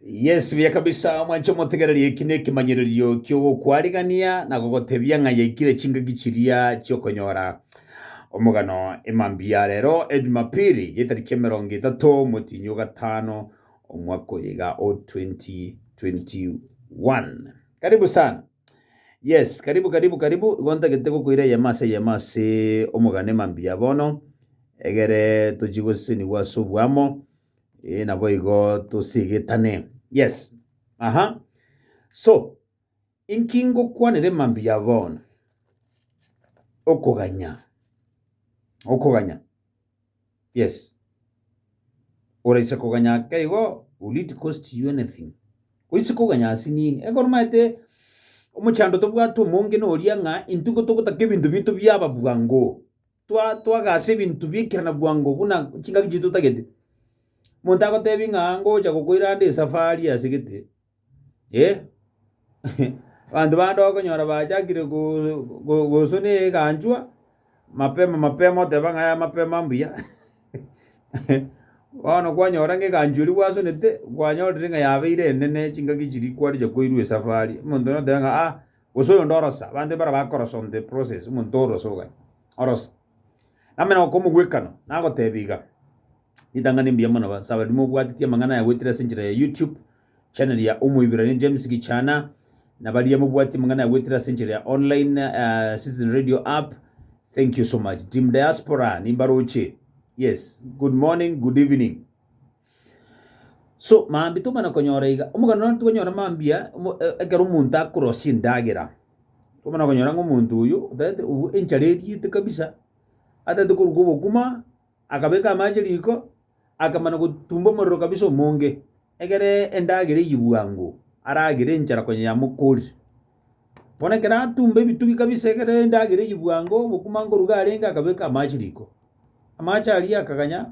Yes, buya kabisa omwanche omotegereri eki nekemanyererio kiogokwarigania na gogotebia ng'a yaikire chingaki chiria chiokonyora omogano emambia ya rero ejumapili yetariki emerongo etato motinyi ogatano omwaka oyiga o 2021 karibu sana yes karibu karibu karibu igo ntagete gokoira eyemo ase eyemo ase omogano emambia bono egere tochigosesenigwa ase obwamo Eh, naboigo tosigetane. Yes. Aha. So, inki ngokwanere mambia bono? Okoganya. Okoganya. Yes. Oraise koganya ake igo, will it cost you anything? Oise koganya ase nini? Ekero maete omochando tobwate omonge noria ng'a intwe gotogotaka ebinto binto biaba bwango. twa twaga ase ebinto bi'ekerana bwango buna chingaki chiaito totagete. Omonto agotebi ng'a ngocha gokoira ande esafari ase gete, eh abanto bande okonyora bachakire go- go- gosuna eganchwa mapema mapema oteba ng'a aya mapema mbuya bono kwanyora ng'a eganchwa eria gwasunete, kwanyorire ng'a yabeire enene chingaki chiria kwarenge koirwa esafari, omonto noteba ng'a ah. Gose oyonde orosa, abanto mbare bakorosa on the process, omonto orosa ogania. Orosa. Namanya okomogwekana, nagotebi iga, ritang'ani mbuya mono ba- saba rimo obwateti amang'ana aya goetera ase enchera ya YouTube, channel ya Omoibrania James Gichana, na baria mobwati amang'ana aya goetera ase enchera ya online eh, Citizen Radio app, thank you so much. Team Diaspora, nimbaroche. Yes, good morning, good evening. So mambia tokomanya konyora iga, omogano nonye tokonyora mambia omo ekero omonto akorosia endagera, tokomana konyora ng'a omonto oyo otagete obu enchara eriete kabisa, atagete koruka obokima, akabeka amache riko, akamana gotumba omorero kabisa omonge, egere endagera eywo bwango, aragere enchara konya yamokori. Bono ekero atumba ebitugi kabisa egere endagera eywo bwango, obokima nkoruga arenge akabeka amache riko. Amache aria akaganya,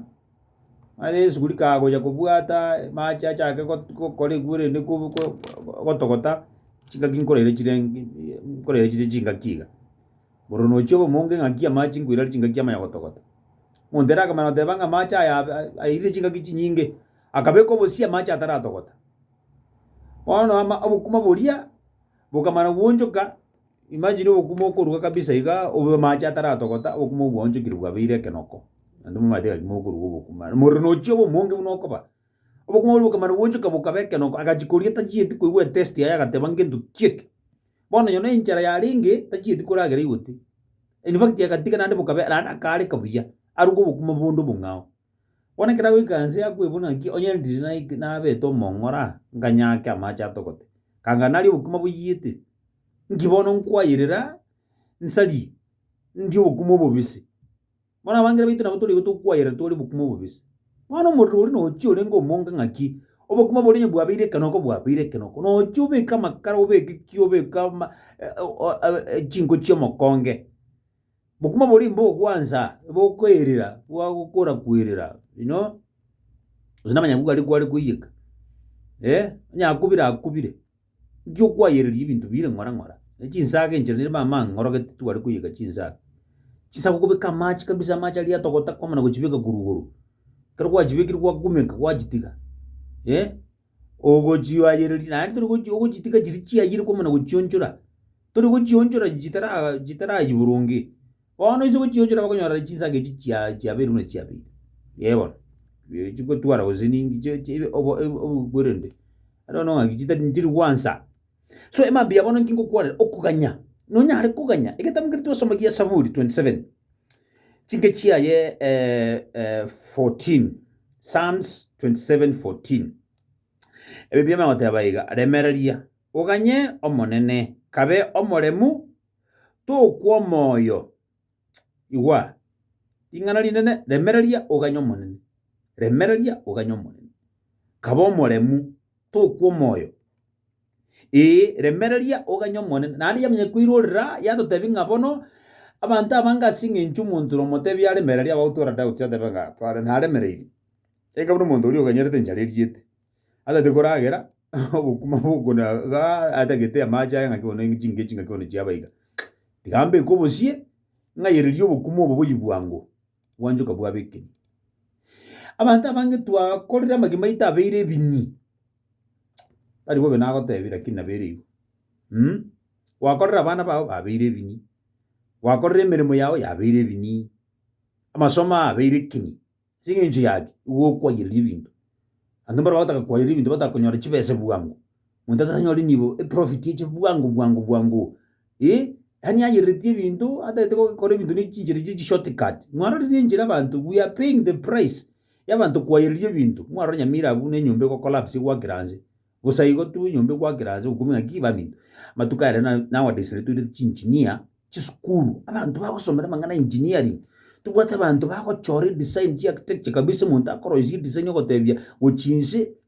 Mara Yesu bori kagocha kobwata amache achake got- gokora ekwo rende kobu ko gotogota, chingaki nkoraire chire nkoraire chire chingaki iga. Oro nochie obomonge ng'aki amache nkoirera chingaki amanya gotogota. Omonto ere akamanya goteba ng'a amache aya ab- a- airire chingaki chinyinge, akabeka obosie amache ataratogota. Bono ama obokima boria, bokamana gwochoka. Imagine obokumu okoruga kabisa igaa, obe amache ataratogota, obokumu obwo bwaonchokire bwabeire ekenoko, naende momanyete gaki mokoruga obokumu are. Omorero nochia obe omonge buna okoba, obokumu oboria bokamana bwaonchoka bokaba ekenoko, agachia koria tachieti koigwa etesti yaye agateba ngento ki eke. Bono onye nenchara yarenge, tachieti koragera igotee. In fact agatiga naende bokabe naende akaareka buya, aruge obokumu bonde obong'ao. Bono ekero agoika inse akwebuna ng'aki onye ndiri naik nabete omong'ora, nkanyaake amache atogote, kanga naria obokima boiyete, inki bono nkwayerera nsarie, ndie obokima obobisi. Bono abangere baito nabo torigo tokwayera tore obokima obobisi. Bono omorero oria nochia orenge omonge ng'aki, obokima boria onye bwabeire ekero oko bwabeire ekero oko, nocha obeke amakara obeke ki obeke ama chinko chi'omokonge, Bokima boria imbe ogwansa bokoirira gwagokora koirira you know gose namanya nigo aria kware koiyeka eh onye akobire akobire nki okwayereria ebinto bire ng'ora ng'ora ne chinsaga enchera niba amang'e ng'ora gete tware koiyeka chinsaga, chinsaga okobeka amache kabisa amache aria atogota kwamana gochibeka korwa igoro ekero gwachibekire gwakumeka gwachitiga eh ogochioayereria naende tori gochi ogochitiga chiria chiayire kwamo na gochionchora, tori gochionchora chitara chitarayie boronge. Bono ase ogochionchora bakonyora chinsake echi chia chiabeire buna chiabeire, ee bono ee chigotwara gose ninki chie chibe obo ebo obokwerende aro noo ng'aki chitari nchiri gwansa. So emambia bono nki ngokwanera, okoganya, nonyare koganya, egetambe keria twasoma gia Esaburi twenty seven. Chinke chiaye eh, eh, 14 Psalms 27 14 Ebi biama goteba iga, remereria, oganye Omonene, kabe omoremu, tokwa omoyo. Igwa, ring'ana rinene, remereria, oganye Omonene, remereria, oganye Omonene, kabe omoremu, tokwa omoyo. Ee, remereria oganye Omonene. Naende yamanya koirorera, yatotebia ng'a bono abanto abange ase engencho omonto ore omotebi aremereria abagotwora doubts batebe ng'a tware naremereiri. Enga buna omonto oria oganyerete enchara eriete, atagete koragera obokima bokona igaa atagete amache aye ng'aki bono chinka echi ng'aki bono chiaba iga. Tiga mbeke obosie, ng'ayererie obokima obo boyigwango. gwanchoka bwabekiri. Abanto abange twakorire amagima aito abeire ebinyi, tari bobe nagotebia lakini nabo ere igo mh, gwakorire abana bao babeire ebinyi, gwakorire emeremo yao yabeire ebinyi, amasomo ao abeire ekinyi, as'engencho yaki igo okwaiyereri ebinto, abanto mbare bagotaka kwaiyereri ebinto bataka konyora chibesa bwango. Monto atasanyore nibo eprofit eche bwango bwango bwango. Eh, yani ayereretie ebinto atagete gokora ebinto ne chinchera chie shortcut. Mwarorire enchera abanto we are paying the price y'abanto kwayereria ebinto. Mwarora nyamira abwo ne enyomba ego collapse egwakera nse. Bosa igo tu enyomba egwakera nse okumia ng'aki baminto. Amatuko aya na nowadays ere toirete chi engineer chisukuru abanto bagosomera amang'ana ya engineering. Tobwate abanto bagochora edesign chia architecture kabisa omonto akoroisia edesign ogotebia gochia inse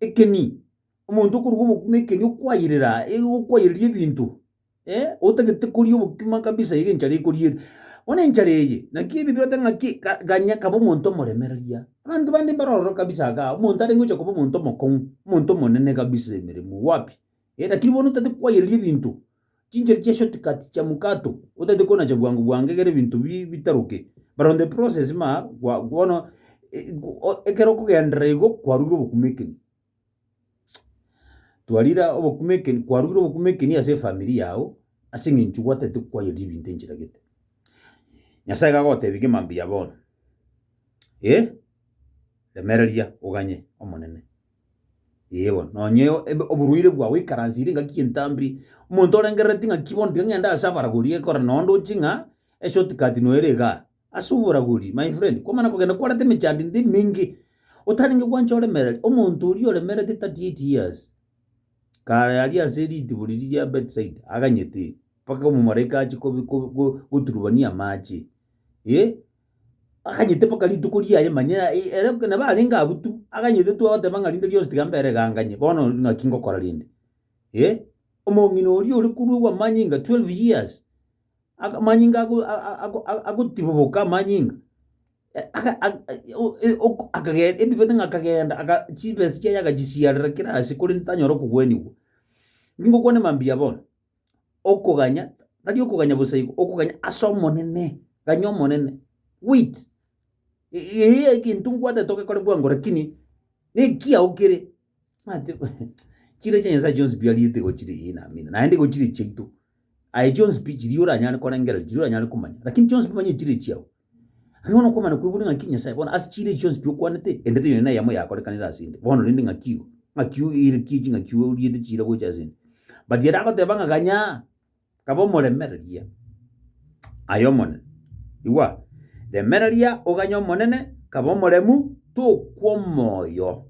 Ekeni, omonto okoruga obokima ekeni okwayerera aa, e- okwayereria ebinto, otagete koria obokima kabisa iga enchara ekoriere. Bono enchara eye, naki ebi biroteba ng'aki ka- ganya kaba omonto omoremereria. Abanto bande mbaroro kabisa igaa, omonto arenge gocha koba omonto omokong'u, omonto omonene kabisa emeremo wapi. Lakini bono otagete kwayereri ebinto, chinchera chia shortcut chia mukato, otagete konacha bwango bwango egere ebinto bi- bitaroke. But on the process ma, kwa- bono eh, go- o- ekero okogenderera igo, kwarugire obokumekeni. Twarira obokumekeni, kwarugire obokumekeni ase efamiri yago, ase eng'encho gwatagete kwayereri ebinto enchera gete. Nyasaye gagotebi gima mbuya bono, eh, remereria oganye Omonene. Ee bono, nonye ebe oboruire bwao oikaransire engaki y'entambiri, omonto orengerereti ng'aki bono tiga ng'ende ase abaraguri ekora nonye ndoche ng'a eshort cut noere iga, ase oboraguri my friend, kwamana kogenda kwareta emechandinto emenge, otarenge gwancha oremereri, omonto oria oremerete thirty eight years, kare aria ase ritiburi riria Bethsaida aganyete, mpaka omomalaika ache kobi ko- ko- goturubania amache, eh. Aganyete mpaka rituko riaye manya e- ere nabo arenge abwo tu, aganyete tu agoteba ng'a rinde rionsi tiga mbere ganganye, bono ng'aki ngokora rende? Eh, omong'ina oria ore korwa amanyinga twelve years, aka amanyinga ago- a- a- ako- a- agotiboboka amanyinga, eh aka aka eh o- e- ok akage ebibete ng'a akagenda aga chibesa chiaye agachisiarera kera ase korende tanyara okogwenigwa. Ningokwane mambia bono, okoganya, tari okoganya bosa igo, okoganya ase Omonene, ganya Omonene, wait, e- eyio egento ngwatete ogekore bwango rakini nekiao kere, mate chire chia Nyasae chionsi pi ariete igo chire eh naamini, naende igo chire chiaito, aye chionsi pi chiria oranyare korengera, chiria oranyare komanya, rakini chionsi pi manya chire chiao. Aye bono okomanya kwegure ng'aki Nyasae bono ase chire echi chionsi pi okwanete, endete yonsi neyemo yakorekanire ase 'nde, bono rende ng'aki igo, ng'aki oerekie ching'aki oriete chire gocha ase 'nde. But ere agoteba ng'a kanyaa, kaba omoremereria aye Omonene, igwa, remereria oganye Omonene, kaba omoremu, tokwa omoyo.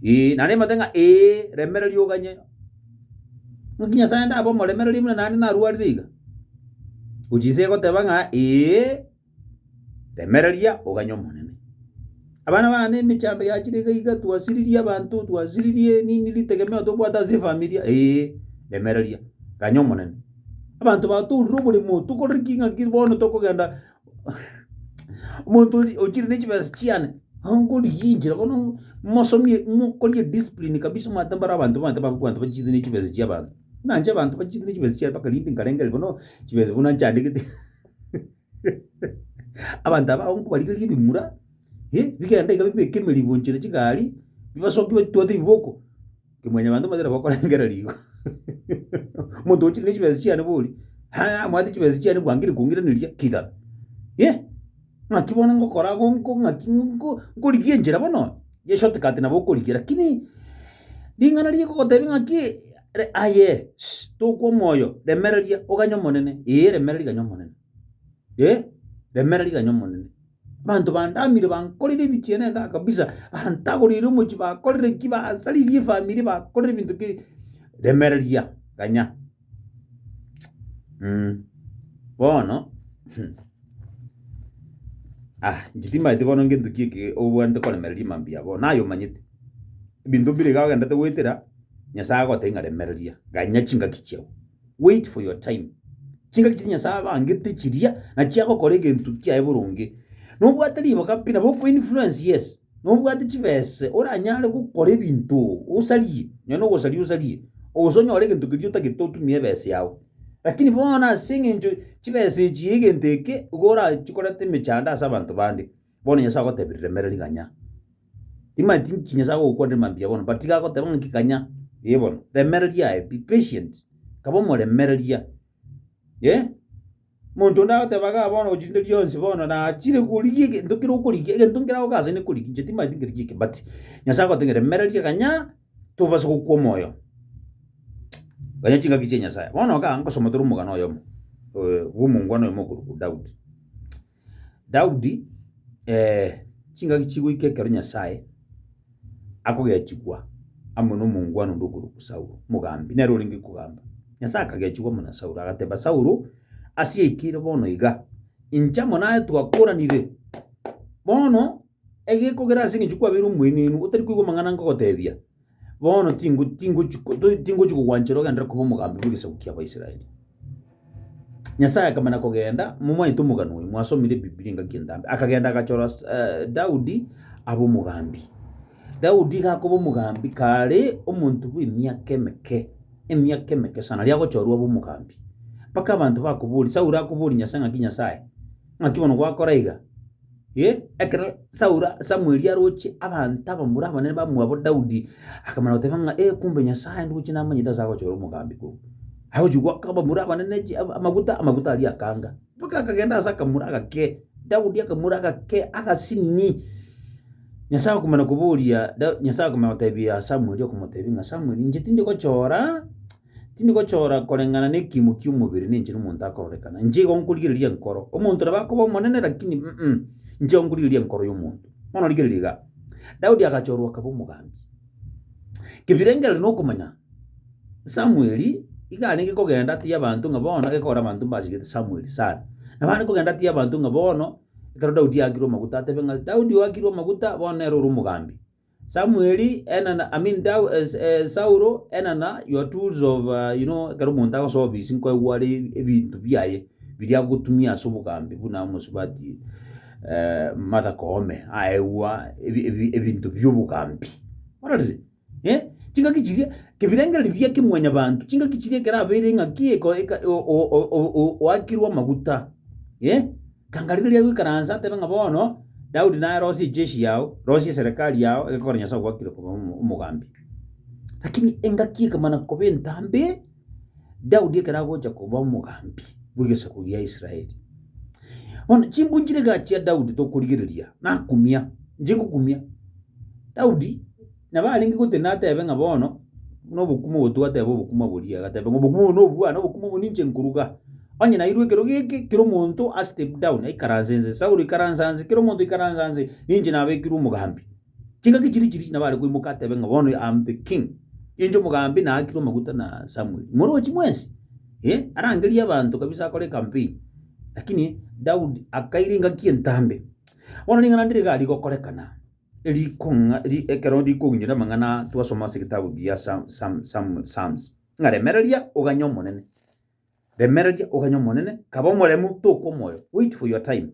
Ee, naende mbate ng'a ee, remereria oganye. Naki Nyasae ndabe omoremereria buna naende narwarire iga? Gochia inse egoteba ng'a ee, remereria oganye Omonene. Abana bane emechando yachire iga iga twasiririe abanto, twasiririe nini ritegemeo tobwate ase efamiri, ee, remereria, ganya Omonene. Abanto batoorire oboremo, tokorere ki ng'aki bono tokogenda. Omonto ori ochire ne chibesa chiane, angorigia enchera bono mosomie mokorie discipline kabisa omanyete mbaro abanto manyete babe abanto bachire ne chibesa chi'abanto. Buna inche abanto bachire ne chibesa chiane mpaka rinde nkarengere bono chibesa buna nchandegete abanto aba abakungu barigerie ebimura bigende iga bibeke emeribo nchera chigari, bibasoki batwate ebiboko. Kimwanyabanto motari bokorengera rigo. Omonto ochire nechibesa chiane bori, aya amwate chibesa chiane bwango rikongireneria kidara. Yea, ng'aki bono ngokora ago nko ng'aki nko nkorigia enchera bono onya ye short cut nabo okorigia lakini ring'ana rigokotebia ng'aki re aye, ss tokwa omoyo remereria oganye Omonene, ee remereria ganye Omonene. eh, remera riganya Omonene. Abanto bandamire bankorire ebichie na egaa kabisa, aha ntagoreire omochie bakorire ki, basaririe efamiri, bakorire ebinto ki, remera riya ganya mh. Bono ah, inche timanyeti bono ngento ki eke obwenerete koremereria mambia abwo, naye omanyete, ebinto mbire iga ogenderete goetera, Nyasae agotebia ng'a remereria, ganya chingaki chiago. Wait for your time. Chingaki chiria Nyasae abangete chiria nachio agokora egento kiaye boronge. Nobwate riboka pi nabo oko influence yes. Nobwate chibese oranyare gokora ebinto osarie. Nonye nogosaria osarie. Gose onyore egento keria otagete otumie ebese yao. Lakini bono ase eng'encho chibese echi egento eke igo orachikorete emechando ase abanto bande. Bono Nyasae agotebia riremere riganya, timanyeti nki Nyasae agokwanera mambia bono, but iga agoteba ng'a kiganya, eh bono, remereria aye, be patient, kaba omoremereria, eh. Monto onde agoteba igaa bono gochia rinde rionsi bono nachire korigia egento kere okorigia, egento nkere agoka ase nekorigia, inche timanyeti nkerigie ki, but Nyasae agote ng'a remereria ganya, tobase gokwa omoyo, ganya chingaki chia Nyasae. Bono igaa ngosoma tore omogano oyomo bw'omongwana oyomo okorokwa Daudi. Daudi chingaki chigoika ekero Nyasae akogechigwa amo nomongwana onde okorokwa Saulo, mogambi, nere orenge kogamba. Nyasae akagechigwa amo na Saulo, agateba, Saulo, ase yaikire bono iga, inche amo naye twakoranire. Bono, egekogera ase eng'encho kwabeire omoenenu, otari koigwa amang'ana nkogotebia, Bono tingo tingochi ko- to- tingochi kogwanchera ogenderere koba omogambi bw'egesaku ki'Abaisraeli. Nyasae akamana kogenda, momanyete omogano oyo, mwasomire Bibilia engaki entambe, akagenda agachora s- eh, Daudi abe omogambi. Daudi iga akoba omogambi kare omonto bw'emiaka emeke, emiaka emeke sana, aria agochorwa abe omogambi, mpaka abanto bakoboria, Saulo akoboria Nyasae ng'aki Nyasae, ng'aki bono gwakora iga. Eh, ekero Saulo, Samweli aroche abanto abamura abanene bamwabo Daudi, akamana goteba ng'a eh, kumbe Nyasae ndoche namanyete ase agochora omogambi korwa. Agochi goaka abamura abanene chi- ama- amaguta, amaguta aria akanga, mpaka akagenda ase akamura agake, Daudi akamura agake, agasini. Nyasae akomana koboria Da- Nyasae akomana gotebia Samweli okomotebi ng'a Samweli, inche tindi gochora. tindi gochora koreng'ana nekiimo ki'omobere ninche nomonto akororekana, inche igo nkorigereria enkoro. Omonto nabo akoba omonene lakini mm inche igo nkorigereria enkoro y'omonto. Bono rigereria igaa, Daudi agachorwa akaba omogambi. Kebirengereri na okomanya, Samueli iga arenge kogenda atiye abanto ng'a bono gekogera abanto mbachigete Samueli sana. Nabo are kogenda atiye abanto ng'a bono, ekero Daudi aakirwe amaguta atebe ng'a Daudi oakirwe amaguta, bono nere ore omogambi. Samuel and an, I mean Dau, uh, uh, Sauro and an, uh, your tools of uh, you know ekero omonto agosoa obisi nkoigwa are ebinto biaye biria agotumia ase obogambi buna mosubati uh, Martha Koome aegwa ebi- ebi- ebinto biobogambi ororire eh? chingaki chiria kebirengererio bia kimwanya banto chingaki chiria ekero abeire ng'aki eko- eka- o- o- o- o- oakirwe amaguta eh? Ganga riina ria goikaransa, tebe ng'a bono Daudi naye arosie echeshi yao, rosie eserekari yao egekora Nyasae ogwakire koba omo- omogambi. Lakini engaki ekamana koba entambe, Daudi ekero agocha koba omogambi bw'egesaku gia Israeli. Bono chimbunchire igaa chia Daudi tokorigereria, nakumia, inche ngokumia Daudi. Nabo arenge gotenena atebe ng'a bono nobokumu obo twateba obokumu obo riria, agateba ng'a obokumu obo nobwane, obokumu obo ninche nkoruga. Onye nairwe ekero geke, kera omonto a step down aikaranse nse, Saulo ikaransa nse, kera omonto ikaransa nse, ninche nabekirwe omogambi. Chingaki chiria chiria nabo are koimoka atebe ng'a bono am the king, inche omogambi naakirwe amaguta na Samuel. Morochi mwensi, eh, arangerie abanto kabisa akore ecampaign, lakini Daudi akaira engaki entambe. Bono ring'ana ndire iga rigokorekana. rikong'a ri ekero rikogwinyora amang'ana aa twasoma ase egetabu gia Psalm, Psalm, Psalm, Psalms, ng'a remereria oganye Omonene, remereria oganye Omonene, kaba omoremu, toka omoyo, wait for your time.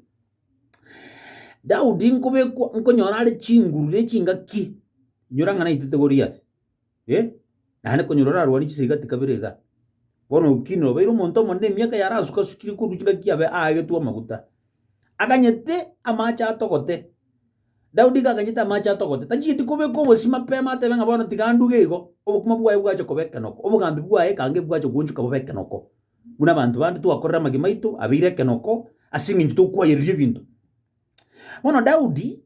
Daudi nkobekwa, nkonyora are chinguru na echingaki, inyora ng'a naitete Goliath. Eh, naende konya ore orarwanie chisegi gati kabere iga, bono ki nobeire omonto omonene emiaka yarasuka-sukire korwa chingaki abe aagetwe amaguta. Aganyete amaache atogote, Daudi iga aganyete amaache atogote, tachigeti kobeka obosio mapema atebe ng'a bono tiga nduge igo, obokima bwaye bwache koba ekenoko, obogambi bwaye ekange bwache koonchoka bobe ekenoko. Buna abanto bande twakorera amagima aito, abeire ekenoko, ase eng'encho tokwayereria ebinto. Bono Daudi,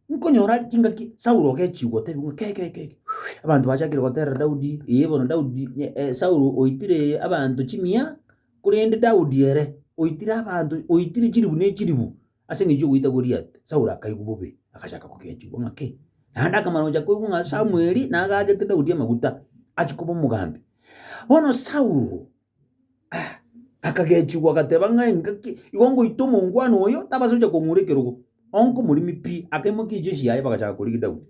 Nkonyora chingaki Saulo ogechigwa otebigwa ng'a keke keke keke, abanto bachakire goterera Daudi, ee bono Daudi ne- eh, Saulo oitire abanto chimia, korende Daudi ere oitire abanto oitire chilifu ne chilifu ase eng'encho y'ogoita Goliati. Saulo akaigwa bobe, agachaka kogechigwa ng'a ki, naende akamana gocha koigwa ng'a Samweli nagachete Daudi amaguta, achia koba omogambi. Bono Saulo. Akagechigwa, agateba ng'a engaki igo ngoita omongwana oyo, tabasa gocha kong'ura ekerogo, onke omoremi pi. Akaimokia ejeshi yaye bagachaka korigia Daudi.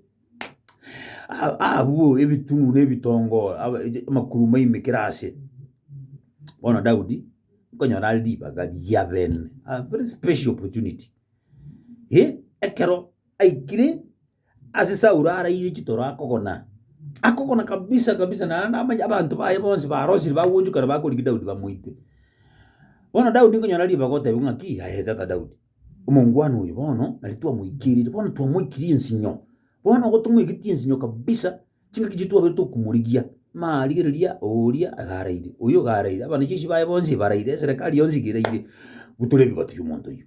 A- abwo ebitunu na ebitongo aba eje- amakuru maimekire ase. Bono Daudi, nkonyora are ribaga ria bene, a very special opportunity, eh, ekero aikire. Ase Saulo araire chitoro akogona, akogona kabisa kabisa, naende abanya abanto baye bonsi barosirie bagonchokana bakorigia Daudi bamoite. Bono Daudi nkonyora ribaga oteba ng'aki, yaye tata Daudi, omongwana oyo bono nari twamoikerire, bono twamoikirie ensinyo, bono igo tomoigetie ensinyo kabisa, chingaki chiaito twabire tokomorigia, mama rigereria oria iga araire, oyo iga araire, abanyachichi baye bonsi baraire, eserekari yonsi iga eraire, bu tore ebigoti bi'omonto oyio.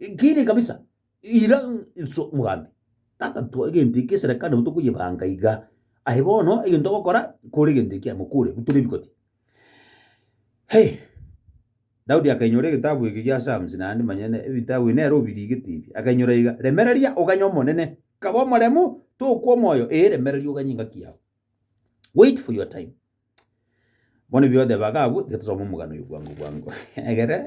Nkiri kabisa, ira inso mogambi. Tata, twa egento eke eserekano nabo tokoyebanga iga. Aye bono egento ogokora, kore egento ekia mokure, butore ebikoti. Hei! Daudi akainyora egetabu eke gia Psalms naende manya ne- ebitabu ebi nere obirigetie ebi, akainyora iga, Remereria, oganye Omonene, kaba omoremu, tokwa omoyo, ee remereria oganye engaki yao. Wait for your time. Bono ebi oteba iga abwo, tiga tosome omogano oyio bwango bwango egere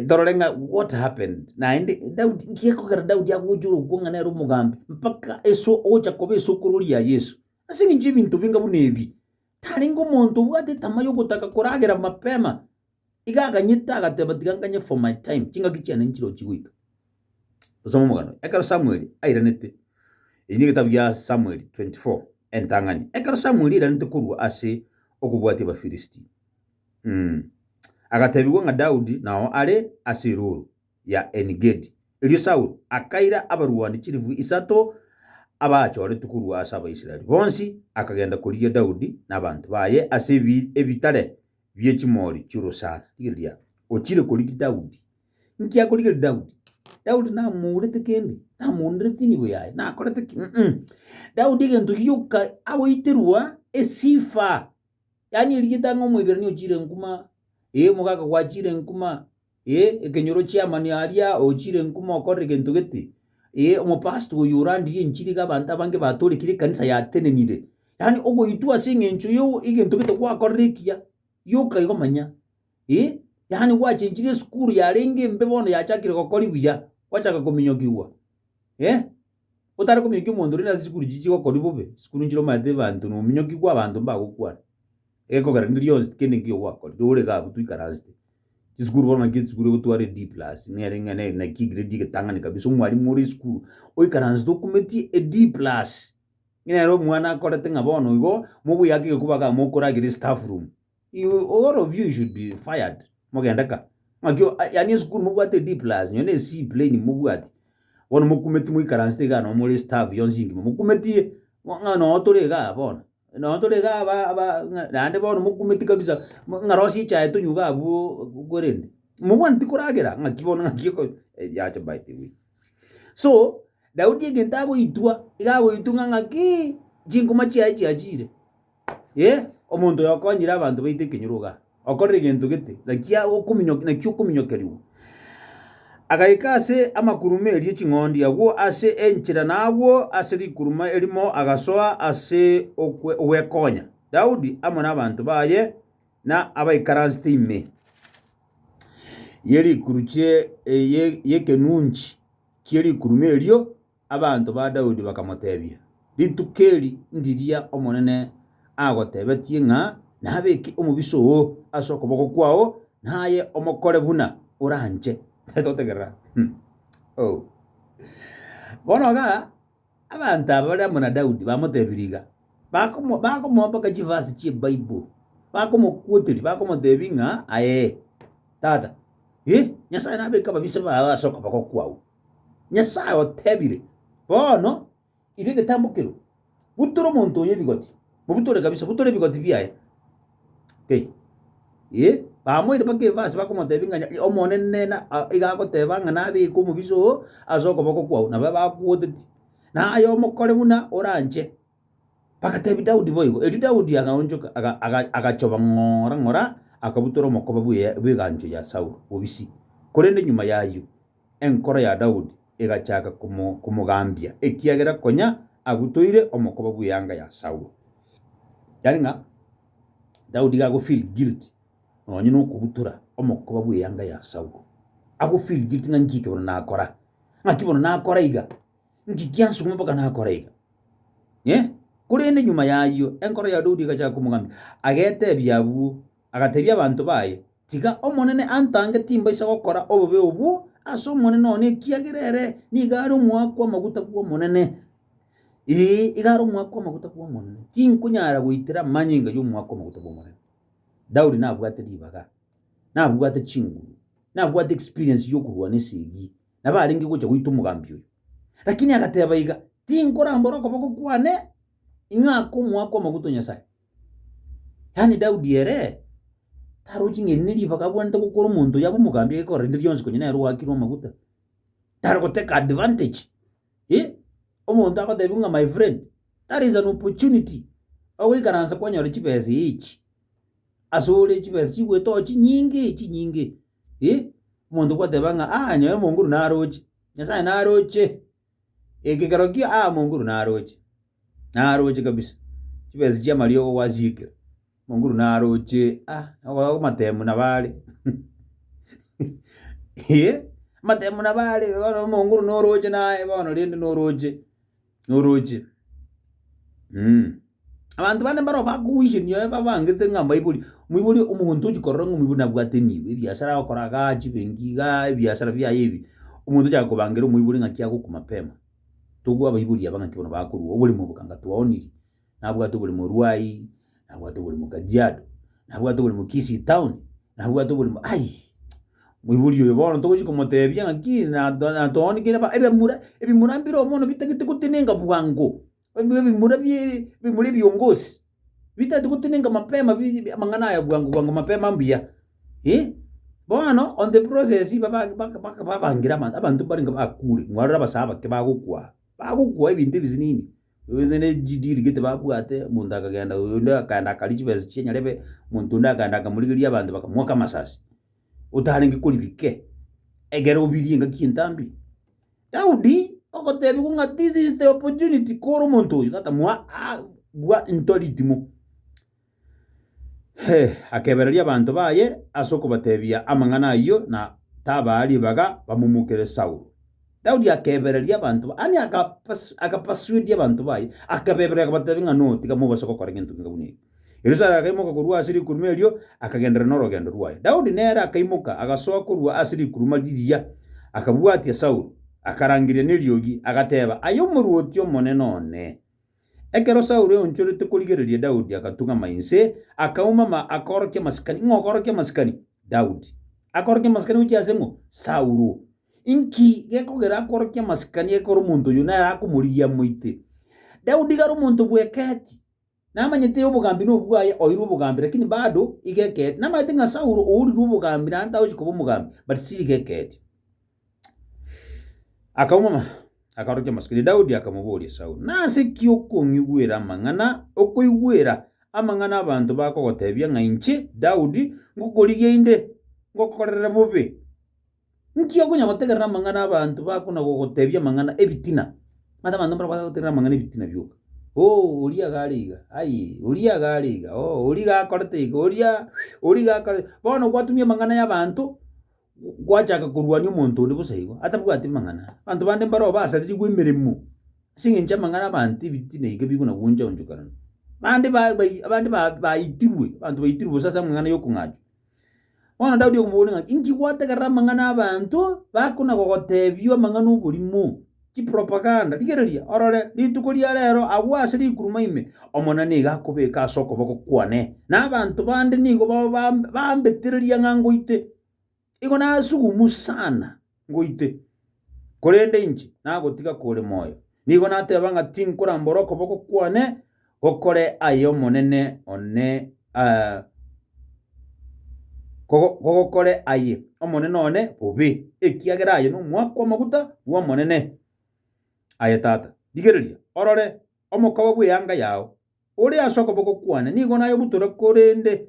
torore ng'a what happened naende Daudi nki gekogera Daudi agocha ore okwo ng'a nere omogambi mpaka eso ogocha koba esukuru ria Yeso? Ase eng'encho y'ebinto binga buna ebi, tarenge omonto obwate etama yogotaka koragera mapema. Iga akanyita, agateba, Tiga nganye for my time, chingaki chiane nchirochi goika. Tosome omogano oye. Ekero Samueli airanete, eyi negetabu gia Samueli 24, entang'ani. Ekero Samueli airanete korwa ase okobwatia Abafirisiti, mm, agatebigwa ng'a Daudi nao are ase erooro ya Enigedi. Erio Saulo akaira abarwani chilifu isato abaachoretwe korwa ase Abaisraeli bonsi, akagenda korigia Daudi na abanto baye ase ebi- ebitare bie chimori chi'orosana. Rigereria, ochire korigia Daudi. Inki akorigereria Daudi? Daudi namourete kende, namoonderete inibo yaye, nakorete ki? Mm-mm. Daudi egento gioka agoiterwa esifa, yaani erieta ng'a omoiberania ochire enkuma, ee, omogaka gwachire enkuma, Ee, ekenyoro chi'amanio aria ochire ng'u mokorere gento gete. Ee, omopastor oyo orandirie enchiri iga abanto abange batoorekire ekanisa yatenenire. Yaani ogoitwa ase eng'encho yo egento gete gwakorire ekiya, yoka igo manya. Ee, yaani gwachenchirie esukuru yarenge embe bono yachakire gokori buya, gwachaka kominyokigwa. Ee. Otare komiokia omonto rende ase chikuru chichia chigokori bobe, chikuru nchire omanyete ebanto nominyoki kwa abanto mbagokwana. Egekogera rende rionsi tikende nkeiyo gwakorire, ore iga abwo toikaransete. Chisukuru bono ng'aki esukuru egotwara eD plus, nere ng'a ne- naki egrade egetang'ani kabisa, omwalimu ore esukuru oikaransete okumetie eD plus, ng'a nere omwana akorete ng'a bono igo, mogoyake egekuba igaa mokoragera estaff room. You all of you should be fired. Mogende ka. Ng'aki o- a- yani esukuru mobwate D plus, nyo ne C plain mobwati. Bono mokumeti moikaransete iga no more staff yonsi ingima. Mokumetie. Mo- Ng'a no tore iga bono. No tore iga aba aba ng'a- naende bono mokumeti kabisa. Mo- Ng'a rosie echae tonywe iga abwo kwerende. Mobwaneti koragera ng'aki bono ng'aki oko eh, yache by the way. So, Daudi egento agoitwa, iga agoitwa ng'a ng'aki chingoma chiaye chiachire. Ee, omonto oyo okonyire abanto baito ekenyorogo aa, okorire egento gete, naki agokominyoka naki okominyokerigwa. Agaika ase amakuruma erio ching'ondi agwo ase enchera na agwo ase rikuruma erimo agasoa ase okwe ogwekonya Daudi amo n'abanto baye na abaikaransete ime ye rikuru chie ye- y'ekenunchi kie rikuruma erio Abanto ba Daudi bakamotebia, Rituko eri ndiria Omonene agotebetie ng'a nabeke omobisa oo ase okoboko kwao, naye omokore buna oranche. Totegerera. Oh. Bono ga abanto aba bare amo na Daudi bamotebirie iga, bakomo- bakomoboka chivasi chi'Ebible, bakomokuoteria, bakomotebia ng'a, Aye, tata, eh, Nyasae nabeke ababisa bao ase okoboko kwao. Nyasae otebire, Bono, iga egetambo ekero, butora omonto oyo ebigoti, mobutore kabisa, butora ebigoti biaye, Pi, Ee, bamoire mpaka efe ase bakomotebia ng'a Omonene na iga agoteba ng'a nabeke omobisa oo ase okoboko kwao, nababe akogotetie, na aye omokore buna oranche. Bagateebia Daudi boigo. Erio Daudi agaonchoka, aga- aga- agachoba ng'ora ng'ora, akabutora omokoba bw'e- bw'egancho ya Saulo bobisi. Korende nyuma y'ayio enkoro ya Daudi egachaka komo- komogambia, ekiagera konya abutoire omokoba bw'eanga ya Saulo. Yaani ng'a Daudi iga agofeel guilty nonye na okobutora omokoba bw'eanga ya Saulo. Agofeel guilty ng'a nchiki bono nakora, ng'aki bono nakora iga. Ngiki ansung'ume mpaka nakora iga, eh. Korende nyuma y'ayio enkoro ya Daudi egachaka komogambia, agetebia abwo, agatebia abanto baye, Tiga Omonene antange timbaisa gokora obobe obwo ase omonene one, ekiagera ere nigo are omoaka amaguta bw'Omonene, ee, iga are omoaka amaguta bw'Omonene, tinkonyara goitera amanyinga y'omoaka amaguta bw'Omonene. Daudi nabwate ribaga, nabwate chinguru, nabwate experience y'okorwana esegi. nabarenge gocha goita omogambi oyo. Lakini agateba iga, Tinkorambora okoboko kwane ing'a akomoakwa amaguta o Nyasae. Yaani Daudi ere tarochi ng'a eri neribaga abwanete gokora omonto oyo abe omogambi agekorera rinde rionsi konya nere oakirwe amaguta. Tari goteka advantage. Eh, omonto agotebiwa ng'a my friend, that is an opportunity. Ogoikaransa kwanyora chibesa echi. Asore chibesa chigoetoa chinyinge chinyinge. Ii, omonto goteba ng'a, aa nyaye omonguru naroche, Nyasae naroche, ekekero kio aa omonguru naroche, naroche kabisa, chibesa chi'amariogo gwasiekire, omonguru naroche, aa okoba amatemu nabo are amatemu nabo are, bono omonguru noroche naye bono rende noroche. noroche mm. Abanto bande mbaro bakogoichenia oye babangete ng'a mbaibori, omoibori omonto ochi korora ng'a omoibori nabwate enibo, ebiasara agokora igaa, chibenki igaa, ebiasara biaye ebi, omonto ochaka kobangera omoibori ng'aki agokwa mapema. Togwe abaibori aba ng'aki bono bakorwa oboremo obo kanga twaoniri. nabwate obore morwai, nabwate obore mo kajiado, nabwate obore mo kisii town, nabwate obore mo ai, moibori oyo bono togochi komotebia ng'aki nato natoonigire ba ebemura ebimura mbireo bono bitagete gotenenka bwango, ebi ebimura bie ebimura ebiongosi, bitagete gotenenka mapema biri bi amang'ana aya bwango bwango mapema mbuya, eh. Bono on the process baba baka baka babangire abanto abanto mbarenga bakure, mwarore abasae abake bagokwa, bagokwa ebinto ebisinini. Onye ne chideal gete babwate, omonto akagenda oyo onde akaenda akaria chibesa chiye nyarebe, omonto onde akaenda akamorigeria abanto bakamoaka amasasi, otarenge korigia kei, egere obirie engaki entambe. Daudi ogotebiwa ng'a this is the opportunity kore omonto oyo, tatamoa aa bwa into ritimo. Akebereria abanto baye ase okobatebia amang'ana ayio, na tabaa ribaga bamomokere Saulo. Daudi akebereria abanto, yaani akapasuedia abanto baye, akabeberera akabatebia ng'a notiga mobase gokora egento kende buna eke. Erio Saulo akaimoka korwa ase rikuruma erio, akagenderera norogendo rwaye. Daudi nere akaimoka, agasoa korwa ase rikuruma riria, akabwatia Saulo, akarangeria neriogi, agateba, Aye omorwoti omonene one! Ekero Saulo aonchorete korigereria Daudi agatung'ama inse, akaumama, akaorokia amasikani. Ng'a okorokia amasikani? Daudi. Akorokia amasikani gochia ase ng'o? Saulo. Inki gekogera akorokie amasikani ekero omonto oyio nere akomorigia amoite? Daudi igare omonto bw'ekeeti, namanyete obogambi nobwaye, oirwe obogambi, lakini bado iga ekeeti. Namanyete ng'a Saulo ourirwe obogambi naende tagochia koba omogambi, but still iga ekeeti. Akaumama, akaorokia amasuka ere Daudi, akamoboria Saulo, Nase ki okong'igwera amang'ana, okoigwera amang'ana abanto bakogotebia ng'a inche, Daudi, ngokorigia inde, ngokokorere bobe? Inki okonya gotegerera amang'ana abanto bakona gogotebia amang'ana ebitina? Manyete abanto mbarabwate gotegerera amang'ana ebitina bioka. Oo, oria iga are iga, aye, oria iga are iga, oo, oria iga akorete iga, oria, oria iga akore. Bono gwatumia amang'ana y'abanto, gwachaka korwania omonto onde bosa igo, atabwati mang'ana, abanto bande mbareo basaririgwe emeremo ase eng'encho amang'ana abanto ebiti naika bikona gwancha onchokanana. Bande ba- bai abande ba- baitirwe, abanto baitirwe bosa ase amang'ana yokong'achwa. Bono Daudi okomoboria ng'a inki gwategerera amang'ana 'abanto bakona gogotebia amang'ana 'oborimo. Chipropaganda, rigereria, orore, rituko ria reero agwo ase rikuruma ime, Omonene nigo akobeka ase okoboko kwane, na abanto bande nigo bao bam- bambetereria ng'a ngoite. Igo nasugumu sana ngoite, korende inche nagotiga kore moyo. Nigo nateba ng'a tinkorambora okoboko kwane Gokore ay'Omonene one eh, kogo- kogokore aye Omonene one bobe, ekiagera aye nomwaka kw'amaguta bw'Omonene. Aye tata, rigereria, orore omokawe bw'eanga yao, ore ase okoboko kwane, nigo nayobutore korende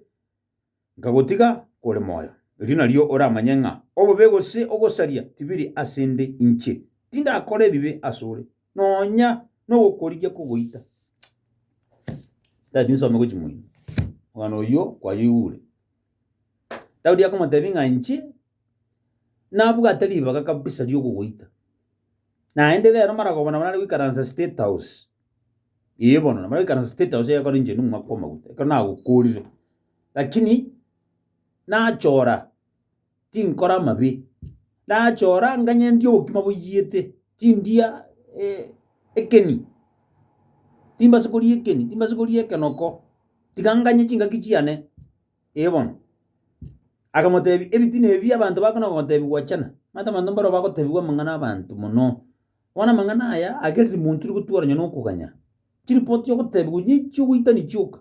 nkagotiga kore moyo, erio nario oramanye ng'a obobe gose ogosaria tibiri ase 'nde inche, tindakora ebibe asore, nonya nogokorigia kogoita. Daudi nsome gochia moino. Omwana oyio kwayoigure. Daudi akomotebia ng'a inche nabwate ribaga kabisa riogogoita, naende rero maragoba nabo nare goikaransa State House, Ee bono nabo ekaranse state house egekora engine omwaka omoguta ekero nagokorire, lakini nachora tinkora amabe, nachora nganye ndie obokima boiyete, tindia ekeni, timbasa koria ekeni, timbasa koria ekenoko, tiga nganye chingaki chiane, ee bono. Akamotebia ebitina ebi abanto bakona kogotebiwa gwachana, manyete abanto mbaro bagotebiwa amang'ana 'abanto mono. Bono amang'ana aya agere timontiri gotugora nonya nokoganya. Chiripoti ogotebigwa onye chiogoitani chioka,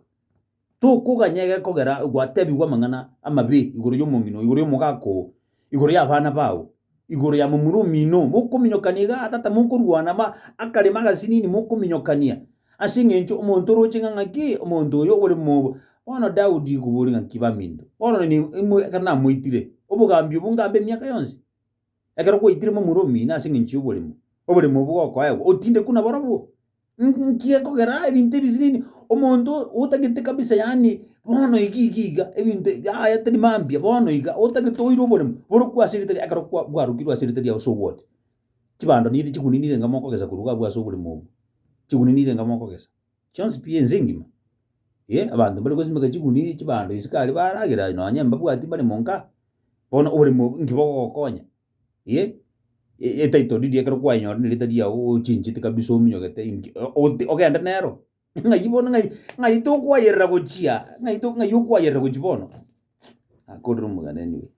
tokoganya egekogera gwatebigwa amang'ana amabe igoro y'omong'ina oo, igoro y'omogaka oo, igoro y'abana bao, igoro ya momura omino oo, mokominyokania iga aa tata mokorwana ma akarema agasinini mokominyokania, ase eng'encho omonto oroche ng'a ng'aki omonto oyo ore mobo. Bono Daudi koboria ng'aki baminto, bono nini ekero namoitire, obogambi obwo ngambe emiaka yonsi? Ekero gwaitire momura omino ase engencho y'oborimo, oborimo obwo gokoegwa otindekwe nabarabwo. Nki gekogera ebinto ebi sinini? Omonto otagete kabisa yaani bono iga iga iga ebinto yaya tari mambia bono iga otagete oire oboremo borokwo ase eritari ekero kwa bwarokirwe ase eritari yao sogote. Chibando niri chiguni nire enga mogokesa korwa iga abwo ase oborimo obwo. Chiguni nire enga mogokesa. Chionsi pi ense engima, ee, abanto mbare gosimeka chiguni chibando isiko aria baragera nonye mbabwati mbare monka, bono oboremo inki bogogokonya? ee, e- etitle deed ekero kwayenyora ne rita riago ochinchete kabisa ominyogete inki o- ogote ogende nero, ng'ai bono ng'ai ng'ai tokwayerera gochia, ng'ai to ng'ai okwayerera gochia bono. akorire omoganeni oye.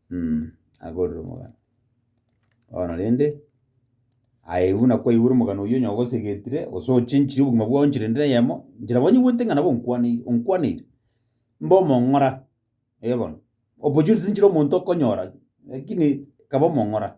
mm, akorire omogano. Bono rende, aye buna kwaigure omogano oyio onye ogosegetire, gose ochenchire obogima bwao enchera ende eyemo, enchera bwanyegoete ng'a nabo onkwaneire, onkwaneire, mbe omong'ora, eh bono, opportunities nchire omonto okonyora, lakini kaba omong'ora.